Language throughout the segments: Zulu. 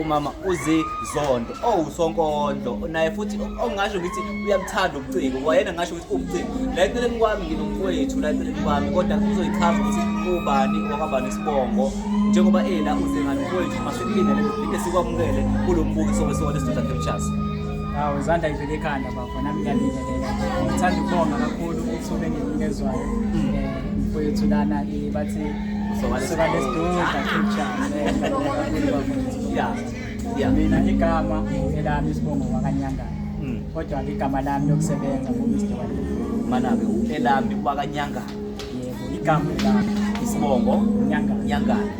umama uzizondo owusonkondlo oh, naye futhi ongasho ukuthi uyamthanda ubuciko wayena ngasho ukuthi ubuciko la eceleni kwami nginomfowethu la eceleni kwami kodwa kuzoyichaza ukuthi ubani wakabani isibongo njengoba ela uze ngani mfowethu masilindele siphinde sikwamukele kulo mbukiso wesikole sidoda captures awu izandla ivele ekhanda bafo nami ngiyalilelela ngithanda ukubonga kakhulu ithuba enginikezwayo um mfowethu lana eh, bathi mina igama elami isibongo wakanyangana hmm. kodwa igama lami lokusebenza manabe elami wakanyangana yebo igama elami isibongo nyangana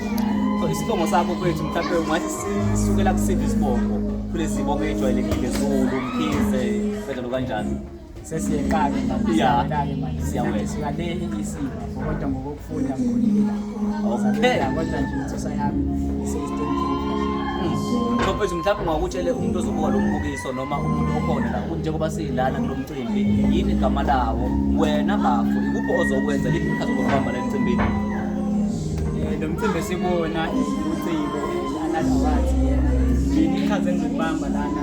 so isibongo sakho kwethu mhlawumbe ungathi sisukela kusiphi isibongo kulezi bongo ejwayelekile zulu mkhize kanjalo kanjalo sesiyeqala siyaqala manje siyaweza le isiba kodwa ngokufunda ngikhulile okay kodwa nje insusa yami Mfowethu hmm. mhlawumbe ungakutshele umuntu ozobuka lo mbukiso noma umuntu okhona la ukuthi njengoba siyilana kulo mcimbi yini igama lawo wena bafo ikuphi ozokwenza liphi ikhathi okubamba le mcimbini eh, lo mcimbi sibona uciko another words yena yini ikhathi engibamba lana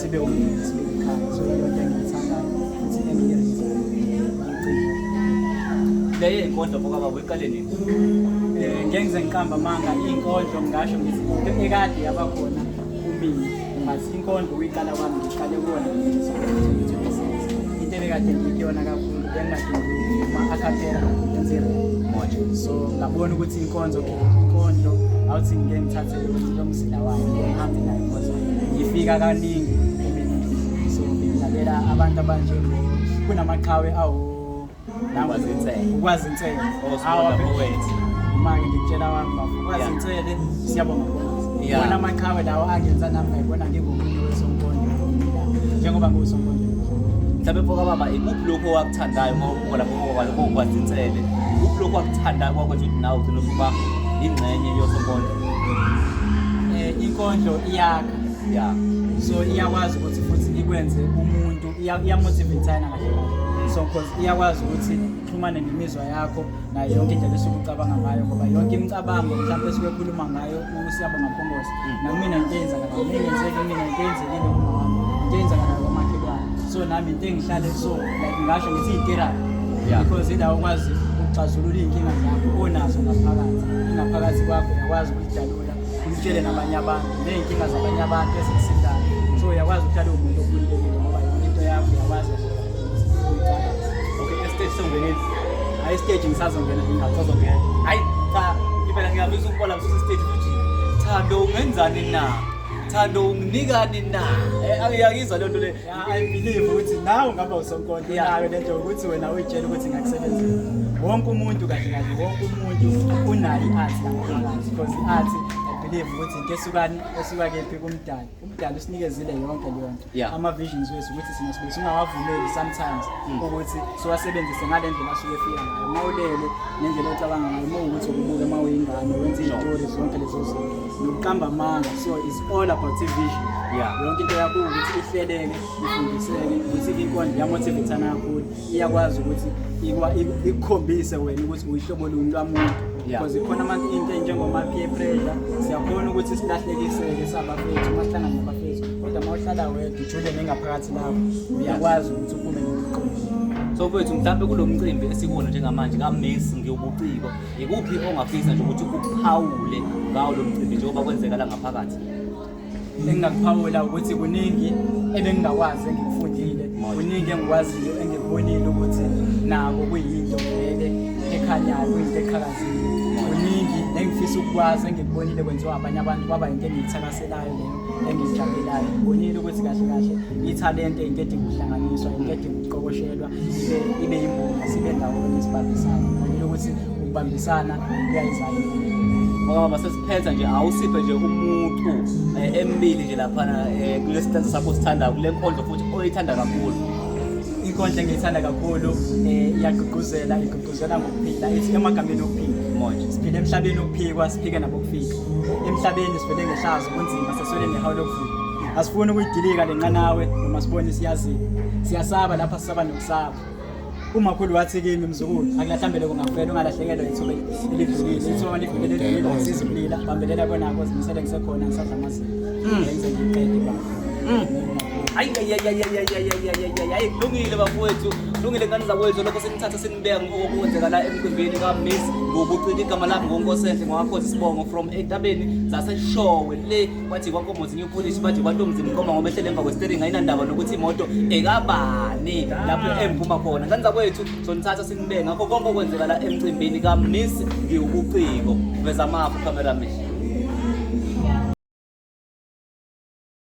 sibe umndeni sibe ikhaya so iyona into engiyithandayo futhi engiyenzayo leye inkondlo bokaba weqale nini eh ngengize ngiqamba manga inkondlo ngasho ngithi into ekade yabakhona kumina but inkondlo uyiqala kwami ngiqale kuwona into ebekade ngiyiyona kakhulu bengingadingi ma-acapella ngenzira so ngabona ukuthi inkonzo inkondlo awuthi ngike ngithathe lomzila wayo ngihambe nayo ngoba ngifika kaningi so ngilalela abantu abanje kunamaqhawe awu ukwazi insele ukwazi insele awabhowethu manje ngikutshela wami bafo ukwazi insele siyabonga wona amaqhawe lawo angenza nami ngayibona ngingomunye wesonkondlo njengoba ngiwusonkondlo mhlawumbe mfoka baba ikuphi lokho wakuthandayo khona kuqoka lokho kwazinsele kuphi lokho akuthanda kwakho nje ukuthi nawe ugcina ukuba ingxenye yosonkondlo eh, inkondlo iyakha ya so iyakwazi ukuthi futhi ikwenze umuntu iyamotivatana kahle so because iyakwazi ukuthi ixhumane nemizwa yakho nayo yonke indlela esuke ucabanga ngayo ngoba yonke imicabango mhlawumbe esuke ekhuluma ngayo Siyabonga Mkhongozi. Hmm. Nakumina into eyenzakala. Ngiyenzeke kumina into eyenzekile kumama wami. Into eyenzakala komakhelwane. So nami into engihlale so like ngasho ngithi itherapy. Yeah. Because indawo kwazi ukuxazulula izinkinga zakho onazo ngaphakathi. Ingaphakathi kwakho yakwazi ukudalula. Umtshele nabanye abantu. Nezinkinga zabanye abantu ezisindayo. So yakwazi ukuthatha umuntu okhulile ngoba yonke into yakho yakwazi okay estage songena hayi stage ngisazongena ngisazongena hayi cha impela ngiyabisa ukubola kususa stage futhi thando ungenzani na thando unginikani na eh, ayiyakizwa lento le i believe ukuthi nawe ngaba usonkonto nayo lento ukuthi wena uyitshela ukuthi ngakusebenzela wonke umuntu kahle kahle wonke umuntu unayo i-art because i-art i believe ukuthi into esukani esuka kephi kumdali umdala usinikezile yonke leyo nto yeah. ama-visions wethu ukuthi sina sibe singawavumeli sometimes mm. ukuthi siwasebenzise ngale ndlela asuke efika ngayo uma ulele nendlela ocabanga ngayo uma ukuthi ukubuke uma uyingane wenza izitori zonke lezo zinto nokuqamba amanga so is all about i-vision yeah. yonke into yakho ukuthi ihleleke ifundiseke ukuthi inkondlo yamotivithana kakhulu iyakwazi ukuthi ikukhombise wena ukuthi uyihlobo luni lwamuntu because ikhona abantu into enjengomapeer pressure siyakhona ukuthi silahlekiseke sabafethu mahlangana nabafethu kodwa uma uhlala wedwa ujule nengaphakathi lapho uyakwazi ukuthi uphume nokuqoqa so kwethu mhlawumbe kulo mcimbi esikuwona njengamanje kamesi ngiwubuciko yikuphi ongafisa nje ukuthi uphawule ngawo lo mcimbi njengoba kwenzeka la ngaphakathi engingakuphawula ukuthi kuningi ebengingakwazi engikufundile kuningi engikwaziyo engikubonile ukuthi nako kuyinto vele ekhanyayo kuyinto eqhakazile kuningi engifisa ukukwazi engikubonile kwenziwa abanye abantu kwaba yinto engiyithakaselayo leyo engiyijabulayo ngibonile ukuthi kahle kahle ithalente into edinga ukuhlanganiswa into edinga ukuqokoshelwa ibe yimbumba sibe ndawonye sibambisane ngibonile ukuthi ukubambisana kuyayizana ngoba masesiphetha nje awusiphe nje umuntu eh, embili nje laphana eh, kulesitanza sakho sithandayo kule nkondlo futhi oyithanda kakhulu inkondla engiyithanda kakhulu um iyagqugquzela igqugquzela ngokuphila ithi emagameni okuphila manje siphile emhlabeni okuphikwa siphike nabokufika emhlabeni sivele ngehlazo kunzima seswele nehawu lokufika asifuni ukuyidilika le nqanawe noma sibone siyazini siyasaba lapha sisaba nokusaba umakhulu wathi kimi mzukulu akulahlambele kungafela ungalahlekelwa ithuba elidlulile ithuba malidlulile elidlulile ngisiza ukulila bambelela konako zimisele ngisekhona ngisadla amazinga mm. ngenze ngiqede baba mm. hayi hayi kulungile bafowethu kulungile ngane zakwethu lokho senithatha senibeka ngokokwenzeka la emcimbini kamis ngokucika igama lami ngonkosenhle ngowakhoza isibongo from entabeni zaseshowe le kwathi kwakomozi new polish bathi kwatomzi mkhoma ngoba ehlele emva kwestering ayinandaba nokuthi imoto ekabani lapho emphuma khona ngane zakwethu sonithatha sinibeke ngakho konke okwenzeka la emcimbini kamiss ngiwubuciko veza amafu cameraman